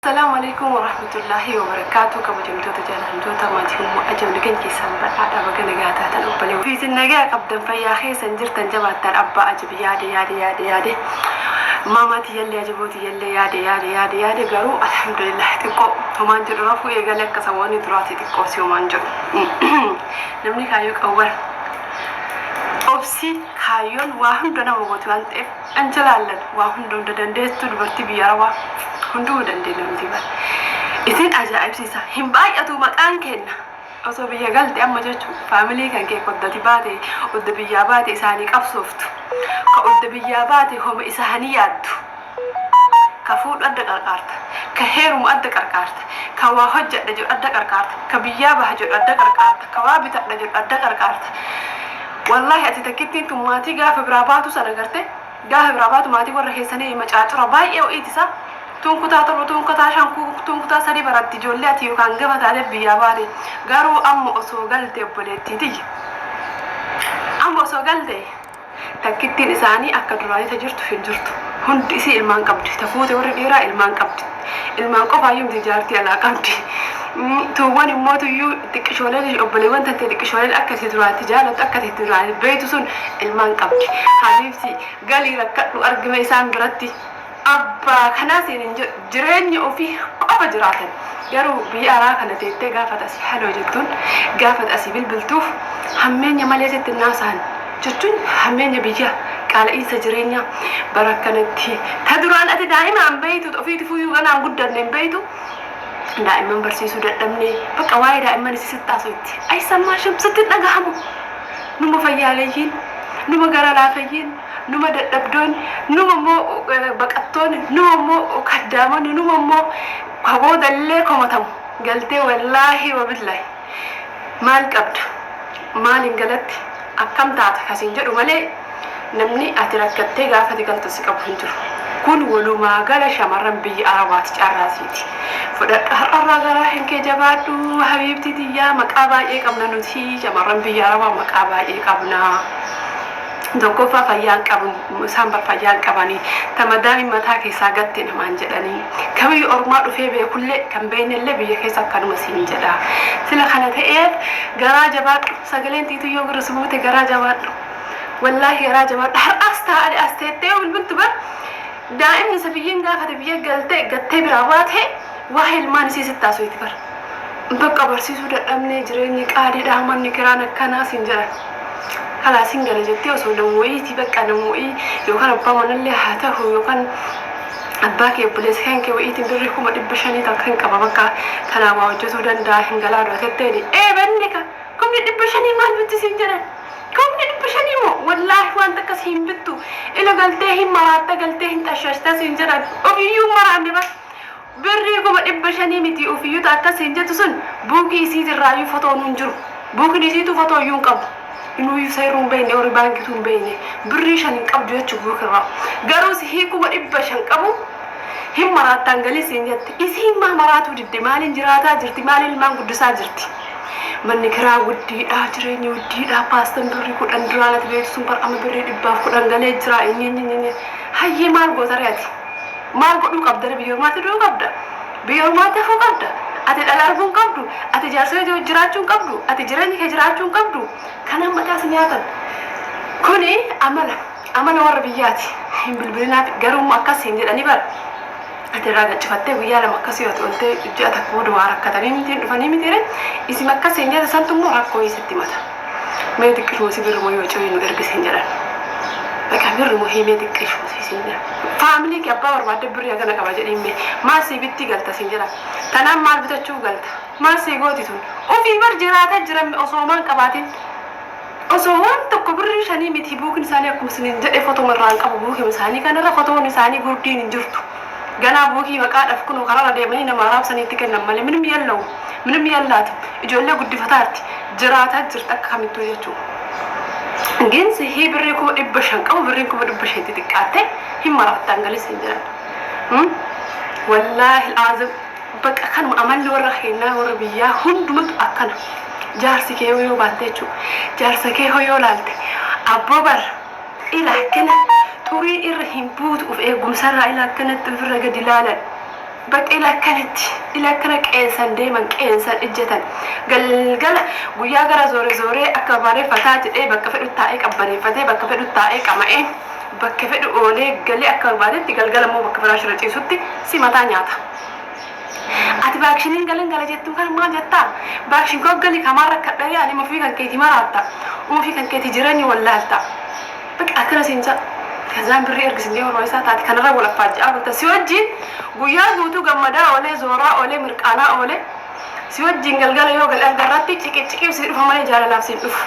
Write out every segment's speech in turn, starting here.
Assalaamu Aleykum Warahmatullaahi Wabarakaatu kabajamtoota jaalaltoota maatii ummu ajab nagan keessan badhaadha baga nagaa taatan obboleewwan fi isin nagaa qabdan fayyaa keessan jirtan jabaattaan abbaa ajab yaade yaade yaade yaade maamaa tiyyallee ajaboo tiyyallee yaade yaade yaade yaade garuu alhamdulillah xiqqoo homaan jedhu rafuu eegale akka saboonni duraati xiqqoo si homaan jedhu namni kaayyoo qawwar obsi kaayyoon waa hunda nama gootu waan ta'eef An jalaallan waa hunda hunda dandeestuu dubartii biyya arabaa hunduu dandeenya nuti bar isin ajaa'ibsiisa hin baay'atuu maqaan keenna osoo biyya galte amma jechuu faamilii kan kee koddati baate odda biyyaa baate isaanii qabsooftu ka odda biyyaa baate homa isaanii yaaddu ka fuudhu adda qarqaarta ka heerumu adda qarqaarta ka waa hojjadha jedhu adda qarqaarta ka biyyaa baha jedhu adda qarqaarta ka waa bitadha jedhu adda qarqaarta Wallahi ati takkittiin tun maatii gaafa biraa baatu san agarte gaafa biraa baatu maatii warra keessanii macaacura baay'ee ho'iiti sa tuun kutaa torba tuun kutaa shan tuun kutaa sadii baratti ijoollee ati yookaan gama taatee biyyaa baate garuu amma osoo galte obboleettii tiyya amma osoo galte takkittiin isaanii akka duraanii ta jirtu hin jirtu hundi isii ilmaan qabdi ta fuute warri dhiiraa ilmaan qabdi Ilmaan qofaayyuu miti jaartii alaa qabdi. Tuuwwan immoo tuyyuu xiqqishooleen obboleewwan tantee xiqqishooleen akka itti duraatti jaalattu akka itti duraanii beektu sun ilmaan qabdi. Habiibti galii rakkadhu argime isaan biratti abbaa kanaa siin hin jedhu jireenya ofii qofa jiraatan. Garuu biyya araa kana teettee gaafata asii haloo jettuun gaafata asii bilbiltuuf hammeenya malee sitti hin haasa'an. jechuun hammeenya biyyaa, qaala'iinsa jireenyaa bara akkanatti ta duraan ati daa'ima hin beektu, ta ofiitifuuyyuu ganaa hin guddanne hin beektu, daa'imman barsiisuu dadhabnee, bakka waa'ee daa'imman isii sitti haasoytti. Aysammaashim! Sitti hin dhagahamu! Numa fayyaaleyyiin, numa gara laafeyyiin, numa dadhabdoonni, numa immoo baqattoonni, numa immoo kaddaamonni, numa immoo ka boodallee komatamu galtee wallaahi wabillaahi. Maal qabda? Maaliin galatti? Akkam taata? Ka siin jedhu malee namni ati rakkattee gaafa ati galtu si qabu hin jiru. Kun walumaa gala shamarran biyya Arabaati carraa siiti. Fudhadhu har'arraa garaa kan kee jabaadhu habiibtii tiyyaa maqaa baay'ee qabna nuti shamarran biyya Arabaa maqaa baay'ee qabna. Tokkoffaa fayyaa hin qabu isaan bar fayyaa hin qabanii ta madaamiin mataa keessaa gatte namaan jedhanii ka biyya ormaa dhufee beekullee kan beeynellee biyya keessa akkanuma siin jedha sila kana ta'eef garaa jabaadhu sagaleen tiituu yoo gurra si buute garaa jabaadhu wallaahi garaa jabaadhu har'aas taa'ani as teettee yoo bilbiltu bar daa'imni isa biyya hin gaafate biyya galte gattee biraa baate waa'ee ilmaan isii sitti haasofti bar Bakka barsiisuu dadhabnee jireenyi qaaliidha manni kiraan akkanaa siin jedhan. Kalaas hin gala jettee osoo namooyiiti bakka namooyii yookaan abbaa manallee haa tahu yookaan abbaa kee obboleessa kan kee wayiitiin birrii kuma dhibba shanii takka hin qaba bakka kanaa waa hojjetuu danda'a hin galaa dura tetteeni. Ee banni ka kumni dhibba shanii maal bitti siin jedhan. Kumni dhibba shanii moo wallaahi waan takka si hin bittu ila galtee hin maraatta galtee hin xashashta siin jedhan. Ofiyyuu hin maraanne bar. Birrii kuma dhibba shanii mitii ufiyyuu ta akkas siin jettu sun buukii isiit irraayyuu fotoonuu hin jiru buukin isiituu fotoo iyyuu hin qabu inuuyyuu sayruu hin beeyne ori baankituu hin beeyne birrii shan hin qabdu jechu buuk irraa garuu sihii kuma dhibba shan qabu hin maraattaan galii siin jette isiin maa maraatuu didde maaliin jiraataa jirti maaliin ilmaan guddisaa jirti manni kiraa wuddiidhaa jireenyi wuddiidhaa paastan birrii kudhan duraa nati beeytu sun bar amma birrii dhibbaaf kudhan galee jiraa inyinyinyinyii hayyee maal goota ree ati Maal godhuu qabdare biyya ormaatti du'uu qabda? Biyya ormaatti hafuu qabda? Ati dhala arguu hin qabdu? Ati jaarsa kee wajjin jiraachuu hin qabdu? Ati jireenya kee jiraachuu hin qabdu? Kanaan mataa si nyaatan. Kuni amala amala warra biyyaati. Hin bilbilinaaf garuu immoo akkas siin jedhanii bara. Ati irraa gachifattee guyyaa lama akkas yoo ati oltee ji'a takka booda waa rakkatanii mitiin dhufanii mitiire isin akkas siin jedhe santu immoo rakkoo isitti mata. Mee xiqqishuma si birruma yoo coyii nu ergi sin jedhan. Baqa birruma hii mee xiqqishuma si sin jedhan. Faamilii kee abbaa barbaadde birrii hagana qaba jedhiin mee. Maal sii bittii galta sin jedhan. Tanaan maal bitachuuf galta. Maal sii gooti tun. Ofii bar jiraataa jiran mee osoo homaa hin qabaatiin. Osoo waan tokko birrii shanii miti buukin isaanii akkuma isiniin jedhe fotoma irraa hin qabu buukima isaanii kanarra fotoon isaanii gurdiin hin jirtu. Ganaa buukii maqaadhaf kunoo kararra deemanii nama araabsanii itti kennan malee minim yellawum. Minim yallaatu. Ijoollee guddifataarti. jiraataa jirta akka kamittuu jechuu gin sihii birrii kuma dhibba shan qabu birriin kuma dhibba shan itti xiqqaatte hin maraattaan galii siin jedhan wallaahi aazim baqa kanuma amalli warra keennaa warra biyyaa hundumatu akkana jaarsi kee yoo baatte jechuu jaarsa kee hoo yoo laalte abboo bar ila akkana xurii irra hin buutu of eegumsarraa ila akkanatti ofirra gadi laalan Bakka ila akkanitti ila akkana qeensan deeman qeensan ijjatan galgala guyyaa gara zoore zooree akka babaaree fataa jedhee bakka fedhu taa'ee qabbaneeffatee bakka fedhu taa'ee qama'ee bakka fedhu oolee galee akka barbaadetti galgala immoo bakka firaasha irra ciisutti si mataa nyaata. Ati vaakshiniin galan gala jettuu kana maal jettaa? Vaakshin koo gali kamaan rakkadha yaani mafii kan keetii maraatta. Uufii kan keetii jireenya wallaalta. Baqi akkana siin ja'a kazaan birrii ergi siin ja'ee hormaa isaa taati kanarra wal affaajja'aa bulta si wajjiin guyyaa guutuu gammadaa oolee zooraa oolee mirqaanaa oolee si wajjiin galgala yoo gale alga irratti ciqicciqiif sii dhufa malee jaalalaaf siin dhufu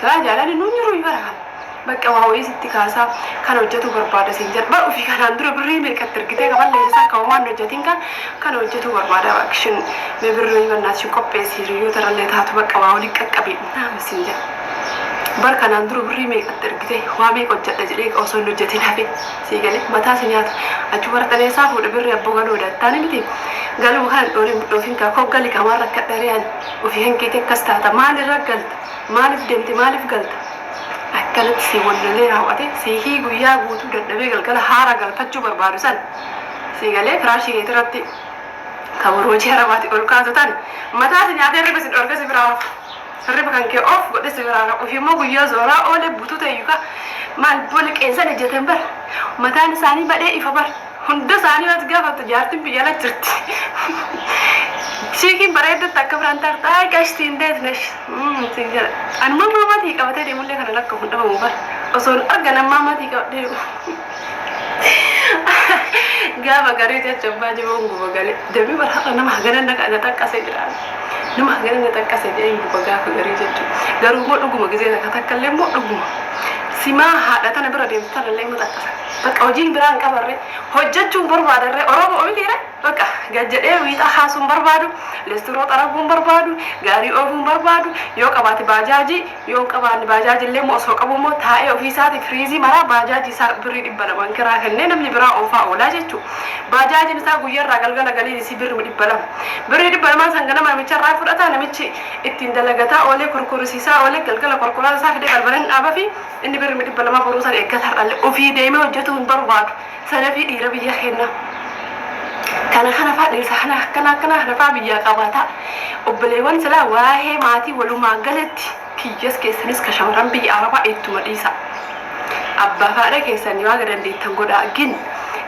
silaa jaalalli nuun jiruuyi bara kana baqqa waa wayii sitti kaasaa kan hojjetuu barbaada siin jedha bar ofii kanaan dura birrii meeqatti ergitee kan balleesse isaa kan homaan hojjetiin kan kan hojjetuu barbaada baqshin mee birrii wayii bannaati ishii qopheessi hiriyyoota irrallee taatu baqqa waa waliin qaqqabii Haaraami siin jedhe. Bar kanaan dura birrii meeqatti ergite, waa meeqa hojjadha jedhee osoo hin hojjatiin hafe. Sii galee? Mataa si nyaata. Achuu waraqan eessaa fuudha birrii abboo galoo dattaani miti. Galuma kana hin dhooriin hin dhoofin kaa koo gali kaa maal rakkadha ree ani. Ofii kan keetii akkas taata. Maal irra galta? Maaliif deemte maaliif galta? Akkanatti sii wallalee raaw'ate siihii guyyaa guutuu dadhabee galgala haara galfachuu barbaadu san. Sii galee firaashii keetirratti. Ka warra hojii harabaatiin ol kaatu tan mataa si nyaatee hirriba si dhorke si biraa hafu. Hirriba kan kee off godhe si biraa hafu. Ofii immoo guyyaa zooraa oole butuu tayyu ka maal bola qeensan ejjatan bar. Mataan isaanii badhee ifa bar. Hunda isaanii yoo ati gaafattu jaartiin biyya ala jirti. Chiikiin bareeddu takka biraan tarta ay qashtii hin deet nesh. Siin jedha. Anuma ammaa maatii qabatee deemullee kana lakka hin dhabamu bar. Osoon argan ammaa maatii qabadhee dhufu. Gaafa garii jecha abbaa jiboon guba galee deebii bara har'a nama hagana na na xaqqase jedhaan. Nama hagana na xaqqase jedheen guba gaafa garii jechu. Garuu immoo dhuguma gizee takka takka illee immoo dhuguma. Simaa haadha tana bira deemtu tana illee immoo xaqqasa. Bakka hojiin biraa hin qabarree hojjechuun barbaadarree Oromoo mitiiree bakka gad jedhee wiixaa kaasuun barbaadu, leestiroo xaraguun barbaadu, gaarii oofuun barbaadu, yoo qabaate baajaajii Yoo hin qabaanne baajaaji illee immoo osoo qabuu immoo taa'ee ofii isaatii firiizii maraa baajaaji isaa birrii dhibba lamaan kiraa kennee namni biraa oofaa oolaa jechuu. Baajaajin isaa guyya irraa galgala galiin isii birrima dhibba lama. Birrii dhibba lamaan san ganama namicha irraa fudhataa namichi ittiin dalagataa oolee kurkurisiisaa oolee galgala korkoraan isaa fidee balbala hin dhaabafi inni birrima dhibba lamaa boruu san eeggata har'a illee ofii deemee hojjetuu hin barbaadu. Sanafii dhiira biyya keenna kana kana faa dhiirsa kana akkana akkana kana faa biyyaa qabaata obboleewwan silaa waa'ee maatii walumaa galatti kiyyas keessanis ka shamarran biyya arabaa ittuma dhiisa abbaa faadha keessan yoo aga dandeettan godha gin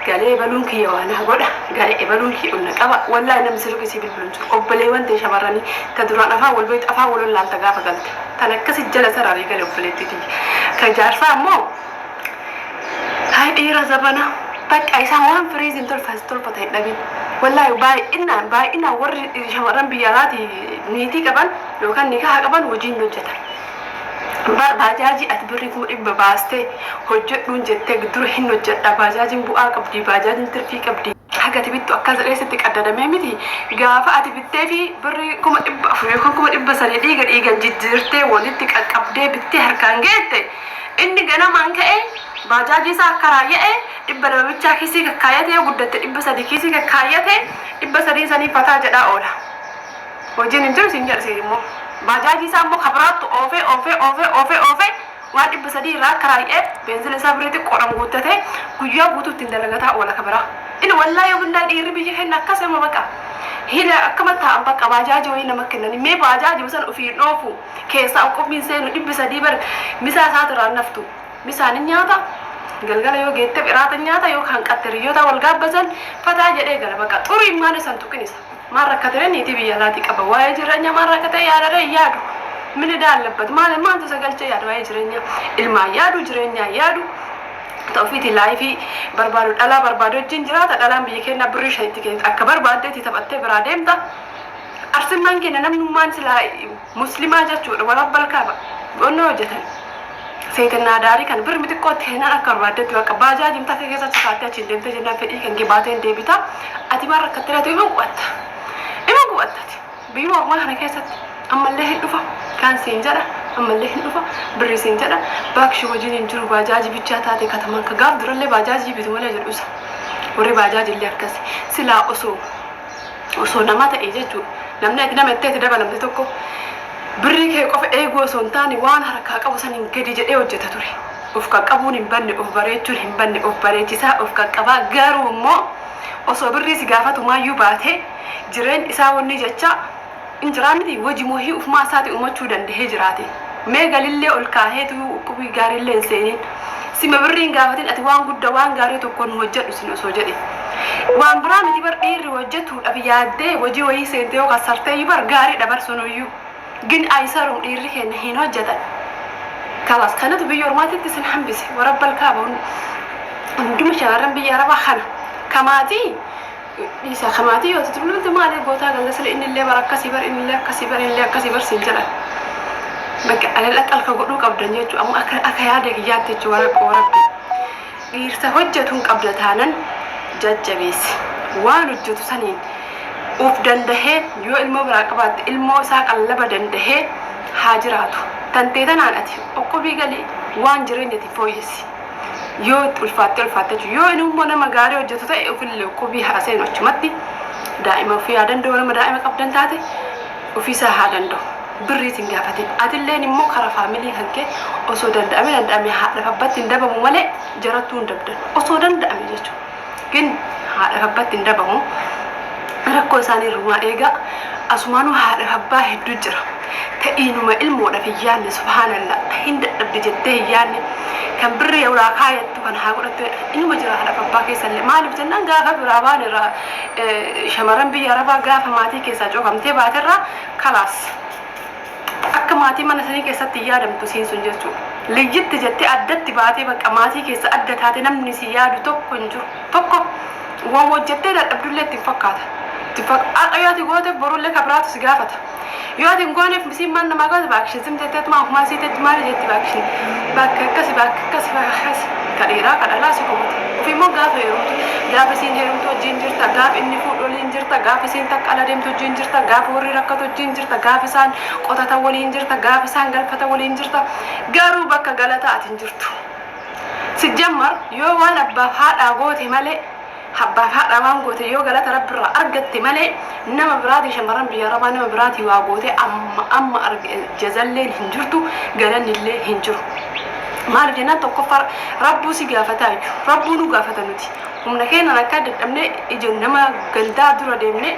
galee ebaluun kiyya waanaa godha galee ebaluun kiyya onna qaba wallaahi namni sirri isii bilbiluun jiru obboleewwan ta'e shamarranii ta duraan afaan wal beektu afaan wal wallaalta gaafa galte tan akkasi jala sararee gale obboleetti tiyya ka jaarsaa ammoo Saay dhiira zabana takka isaan waan firiizi hin tolfas tolfata hin dhabin. Wallaahi baay'inaan baay'inaan warri shamarran biyya alaatii niitii qaban yookaan nikaha qaban hojiin hin hojjetan. Bar baajaajii ati birri kuma dhibba baastee hojjedhuun jettee dura hin hojjedha baajaajiin bu'aa qabdi baajaajiin tirfii qabdi. Haga ati bittu akkas jedhee sitti qaddadamee miti gaafa ati bittee fi birri kuma dhibba afur yookaan kuma dhibba sadii dhiiga dhiigan jijjiirtee walitti qaqqabdee bittee harkaan geette Inni ganamaan ka'ee baajaajii isaa akkaraaya'e, dhibba lama bichaa kiisii kakkaayate, yoo guddatte dhibba sadii kiisii kakkaayate, dhibba sadiin sanii fataa jedhaa oola. Hojiin hin jiru siin jedha siin immoo. Baajaajii isaa immoo ka biraattu oofee, oofee, oofee, oofee, oofee waan dhibba sadii irraa akkaraaya'eef beenzila isaa birrii xiqqoodhaan guuttatee guyyaa guutuu ittiin dalagataa oola ka biraa. Inni wallaahi yoo billahi dhiirri biyya keenna akkas amma baqa. Hila akkama taa'an baqa baajaajii wayii nama kennanii mee baajaajuma san ofii hin oofu. keessaa uqqubiin seenu dhibbi sadii bar misaa isaatu irraa naftu misaan hin nyaata galgala yoo geette biraata nyaata yoo hanqatte riyyoota wal gaabbasan fataa jedhee gala bakka xurii maal isan tuqin isa maal rakkatee niitii biyya laatii qaba waa'ee jireenya maal rakkatee yaadadee hin yaadu mini daallabbatu maal maaltu isa galchee yaadu waa'ee jireenya ilmaan yaadu jireenyaa yaadu ta'ufiiti laayifii barbaadu dhalaa barbaadu wajjin jiraata dhalaan biyya keenya birrii shanitti keenya akka barbaaddeetti taphattee biraa deemta Arsimmaan keenya namnummaan silaa muslimaa jechuudha warabbal kaaba onnoo hojjetan seetennaa daarii kana birmi xiqqootti kennaan akka barbaaddetti bakka baajaaji mataa kee keessa chikaattee achiin deemtee jennaan fedhii kan kee baatee hin deebita ati waan rakkattee laatu ima gubatta ima gubattati biyyuma ormaa kana keessatti ammallee hin dhufa kaan siin jedha ammallee hin dhufa birri siin jedha baakshi hojiin hin jiru baajaaji bichaa taate katamaan ka gaaf durallee baajaajii bitu malee jedhu isa warri baajaajillee akkasi silaa osoo osoo nama ta'e jechuudha. Namni ati nama itti itti dabalamte tokko birrii kee qofa eeguu osoo hin taane waan harkaa qabu saniin gadi jedhee hojjeta ture. Of qaqqabuun hin banne, of bareechuun hin banne, of bareechisaa, of qaqqabaa garuu immoo osoo birrii si gaafatumaayyuu baatee jireen isaa wanni jechaa Hin jiraa miti hojii wahii ufumaa isaati umachuu dandahee jiraate mee galillee ol kaahee tuyuu uqubii gaarillee hin seeniin sima birrii hin gaafatin ati waan gudda waan gaarii tokko nu hojjadhu sin osoo jedhe waan biraa miti bar dhiirri hojjatuudhaf yaaddee hojii wahii seente yoo kassarteeyyu bar gaariidha bar sunuyyuu gin aysarum dhiirri keenna hin hojjatan kalaas kanatu biyya ormaatitti sin hambise warabbal kaaba hunduma shamarran biyya arabaa kana kamaatii Dhiisa ka maatii yoo itti bulante maalee gootaa ganda sila innillee bara akkasii bar innillee akkasii bar innillee akkasii bar siin jedhan. Bakka alal aqal ka godhuu qabdan jechuu amma akka akka yaada kiyyaatti jechuu wara qoorabbi. Dhiirsa hojjetu hin qabda taanan jajjabeessi. Waan hojjetu saniin uf dandahee yoo ilmoo biraa qabaatte ilmoo isaa qallaba dandahee haa jiraatu. Tantee tanaan ati oqqubii galii waan jireenyati fooyessi. yoo itti ulfaattee ulfaattee jechuudha. Yoo inni immoo nama gaarii hojjetu ta'e ofillee qubii haa seenu achumatti daa'ima ofii haa danda'u nama daa'ima qabdan taate ofiisaa haa danda'u. Birriis hin gaafatin. Atilleen immoo karaa faamilii kan kee osoo danda'ame danda'ame haadhaaf abbatti hin dabamu malee jarattuu hin dabdan. Osoo danda'ame jechuudha. Rabbin haadhaf abbatti hin dabamu rakkoo isaani irrumaa eega asumaanuu haadhaf abbaa heddu jira ta iinuma ilmoodhaf hin yaanne subhaanalla ta hin dadhabdi jettee hin yaanne kan birrii irraa kaayattu kan haa godhattu jedha inuma jira haadhaf abbaa keessallee maalif jennaan gaafa biraa baan irraa shamaran biyya arabaa gaafa maatii keessaa cufamtee baaterraa kalaas Akka maatii mana sanii keessatti hin yaadamtu isiin sun jechuudha. Liyyitti jettee addatti baatee bakka maatii keessaa adda taate namni si yaadu tokko hin jiru. Tokko woma hojjettee dadhabdullee itti hin fakkaata. Har'a yoo ati gooteef borullee ka biraatu si gaafata. Yoo ati hin gooneef isiin maal namaa gooti baakishin zim jetteetuma ofumaa isii teetti maali jetti baakishin bakka akkasi bakka akkasi bakka akkasi ka dhiiraa ka dhalaa si gooti. Ofii immoo gaafa heerumtu gaafa isiin heerumtu wajjin jirta gaafa inni fuudhu waliin jirta gaafa isiin takka ala deemtu wajjin jirta gaafa warri rakkatu wajjin jirta. jirta gaafa isaan qotatan waliin jirta gaafa isaan galfatan waliin jirta garuu bakka galataa ati hin jirtu sijjammar yoo waan abbaaf haadhaa goote malee abbaaf haadhaa waan goote yoo galata rabbirraa argatte malee nama biraatii shamarran biyya arabaa nama biraatii waa goote amma amma arge jazalleen hin jirtu galannillee hin jiru maaliif jennaan tokkoffaa rabbuu si gaafataa iyyuu rabbuu nu gaafata nuti humna keenyaan akka dadhabne ija nama gandaa dura deemne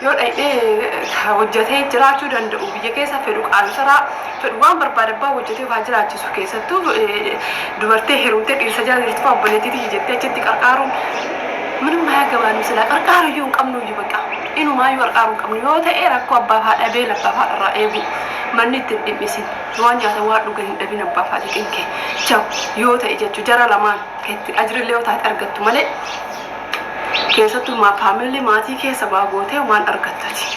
yoo dhayxee hojjatee jiraachuu danda'u biyya keessa fedhu qaansaraa fedhu waan barbaade abbaa hojjatee ofaa jiraachisu keessattuu dubartee heerumtee dhiirsa jala jirtu fa'aa obboleettii tiyya jettee achitti qarqaaruun minum haa gabaannu silaa qarqaaru iyyuu hin qabnu iyyuu baqa inumaa iyyuu qarqaaru hin qabnu yoo ta'e rakkoo abbaa fa'aa dhabee labbaa fa'aa irraa eegu manni itti hin dhimmisin waan nyaata waan dhuga hin dhabin abbaa fa'aa xiqinke jabu yoo ta'e jechuu jara lamaan keetti ajrillee yoo taate argattu malee keessattuu maa faamilli maatii keessa waa gootee waan argattati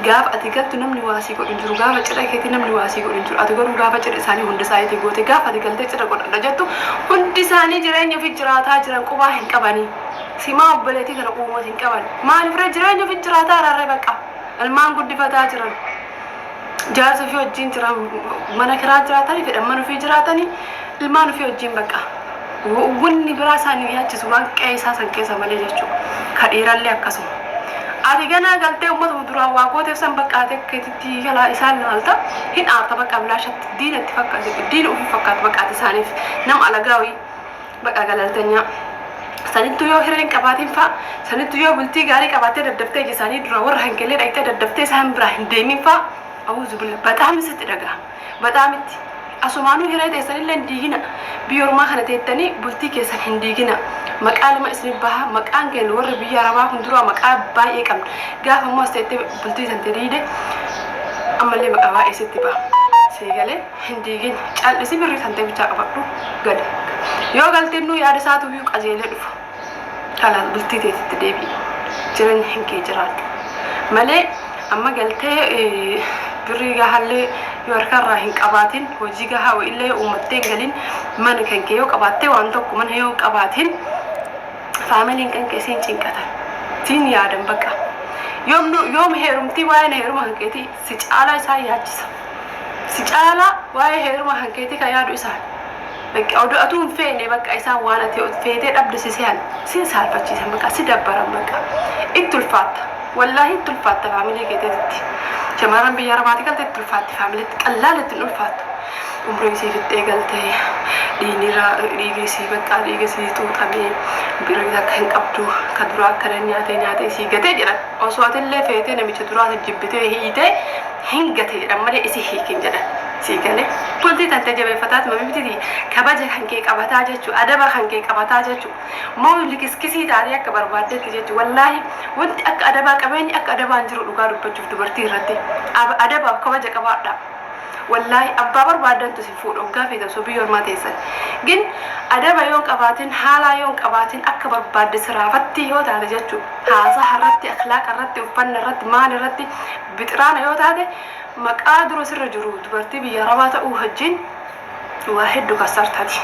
gaafa ati galtu namni waa sii godhu hin jiru gaafa cidha keetii namni waa sii godhu hin jiru ati garuu gaafa cidha isaanii hunda isaaniitii goote gaafa ati galtee cidha godhadha jettu hundi isaanii jireenya ofi jiraataa jiran qubaa hin qabanii simaa obboleetii kana quumooti hin qaban maaliif ree jireenya ofi jiraataa irraa ree baqa ilmaan guddifataa jiran jaarsa ofii wajjin jira mana kiraa jiraatanii fedhan mana ofii jiraatanii ilmaan ofii wajjin baqa wanni biraa isaanii yaachisu waan qe'ee isaa san keessa malee jechuudha ka dhiirallee akkasuma ati ganaa galtee uummata duraa waa gooteef san bakka ati akka itti galaa isaan laalta hin aarta bakka bilaashatti diina itti fakkaate diina ofii fakkaata bakka ati isaaniif nama alagaa wayii Baqaa galaaltanyaa. Sanittuu yoo hiree hin qabaatiin faa, sanittuu yoo bultii gaarii qabaattee daddaftee ija isaanii duraa warra hanqillee dhaqxee daddaftee isaan biraa hin deemin faa, Auzubillah, baxaam isitti dhagahama. Baxaam itti. Asumaanuu hiree teessanillee hin diigina. Biyya ormaa kana teettanii bultii keessan hin diigina. Maqaa lama isin baha. Maqaan keenya warri biyya arabaa kun duraa maqaa baay'ee qabna. Gaafa immoo as teettee bultii tante diide ammallee maqaa baay'ee sitti baha. Sii galee. hin diigin cal'isi birri sante bichaa qabadhu gale yoo galtennuu yaada isaatu iyyuu qajeelee dhufa kanaan bultii teetitti deebi'i jireenya hin kee jiraadhu malee amma galtee birrii gahallee yoo harkarraa hin qabaatin hojii gahaa wa'illee yoo uummattee hin galin mana kan kee yoo qabaattee waan tokko mana yoo qabaatin faamiliin kan kee siin cinqatan siin yaadan baqa yoom heerumtii waa'een heeruma kan keetii Si caalaa isaan yaachisa. Si caalaa waa'ee heeruma kan keetii ka yaadu isaan. Bakka odoo atuu hin feene bakka isaan waan ati feetee dhabde si sehan. Sin saalfachiisan bakka si dabbaran bakka. Itti ulfaatta. Wallaahii itti ulfaatta faamilii keeteetitti. Shamarran biyya arabaatii galte itti ulfaatti faamiliitti qallaala itti hin ulfaattu. Umrii isii fixxee galte dhiigni irraa dhiigni isii bakka dhiiga isii xuuxamee bira akka hin qabdu ka duraa akkana nyaatee nyaatee isii gatee jedhan. Osoo atillee feetee namicha duraasan jibbitee hiitee hin gate jedhan malee isi hiiki hin jedhan. Sii galee? Bultii tantee jabeeffataatuma mibtitii kabaja kankee qabataa jechu adaba kankee qabataa jechu moo likiskisii taatee akka barbaaddetti jechu wallaahi wanti akka adabaa qabeenyi akka adabaa hin jiru dhugaa dubbachuuf dubartii irratti. Aba adabaaf kabaja qabaadhaa. wallaahi abbaa barbaaddantu isin fuudha oggaa feetan osoo biyya ormaa teessan gin adaba yoon qabaatin haalaa yoon qabaatin akka barbaadde siraafattii yoo taate jechu haasaha irratti akhlaaqa irratti uffanna irratti maal irratti bixiraana yoo taate maqaa dura sirra jiru dubartii biyya arabaa ta'uu hajjiin waa heddu kassartati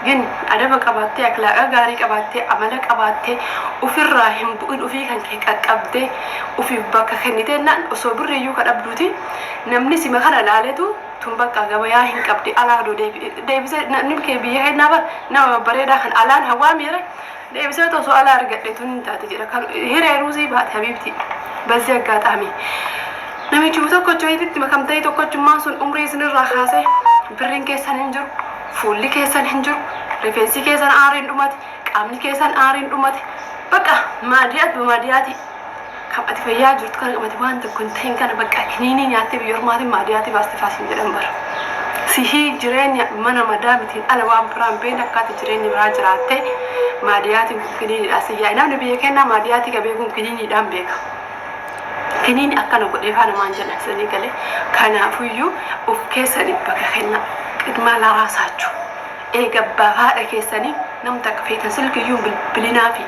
gin adaba qabaattee aklaaqa gaarii qabaattee amala qabaattee ufirraa hin bu'in ufii kan kee qaqqabdee ufiif bakka kennite jennaan osoo birri iyyuu ka dhabduuti namni sima kana laaletu tun bakka gabayaa hin qabdi alaa odoo deebi- deebisee namni kee biyya kennaa bar nama babbareedaa kan alaan hawaa miire Deebisee otoo su'aala argadhe tun hin taati jedha. Kan hiree ruuzii baate habiibti. Bazzi aggaataami. Namichuma tokkocha wayititti makamtanii tokkochummaan sun umrii isinirraa kaasee birriin keessan hin jiru, fuulli keessan hin jiru, rifeensi keessan aariin dhumate, qaamni keessan aariin dhumate. Baqa maadiyaat bamaadiyaati. Kan ati fayyaa jirtu kana kan ati waan tokko hin ta'in kana bakka kiniinii nyaattee biyya ormaatiin maadiyaatii baaste faa siin jedhan bara. Sihii jireenya mana madaamitiin ala waan biraa hin beekne akka ati jireenya biraa jiraatte maadiyaatiin kun kiniiniidhaan si yaa'i. Namni biyya keenyaa maadiyaatii ka beekuun kiniiniidhaan beeka. Kiniini akkana godhee faa namaan jedhan sanii galee kanaafuyyuu of keessanii bakka kennaa qidmaa laraa saachuu. Eega abbaaf haadha keessani nam takka feetan silkiyyuu hin bilbilinaafi.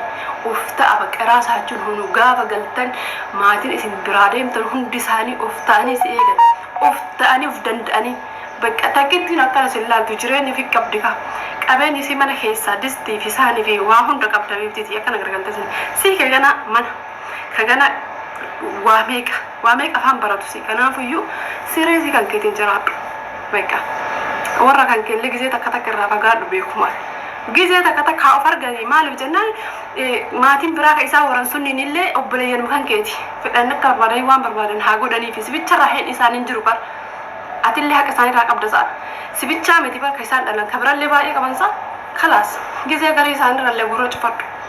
Of ta'a bakka raasaa jechuun hunu gaafa galtan maatiin isin biraa deemtan hundi isaanii of ta'anii si eegan. Of ta'anii of danda'anii. Bakka takkittiin akkana sin laaltu jireenya fi qabdi ka. Qabeenyi isii mana keessaa distii fi saani fi waa hunda qabda beektiiti akkana gargaltee sin. Sii kee ganaa mana. Sagana waa meeqa waa meeqa afaan baratu si kanaafuyyuu sireesii kan keetiin jiraadhu beqa warra kan keellee gizee takka takka irraa fagaadhu beekuma gizee takka takka haa of arganii maaliif jennaan maatiin biraa ka isaa waran sunniin illee obboleeyyanuma kan keeti fedhan akka barbaadan waan barbaadan haa godhaniif si bicha irraa heen isaan hin jiru bar atillee haqa isaan irraa qabda sa'a si bichaa miti bar ka isaan dhalan ka birallee baay'ee qaban sa'a kalaas gizee garii isaan irrallee gurra cufadhu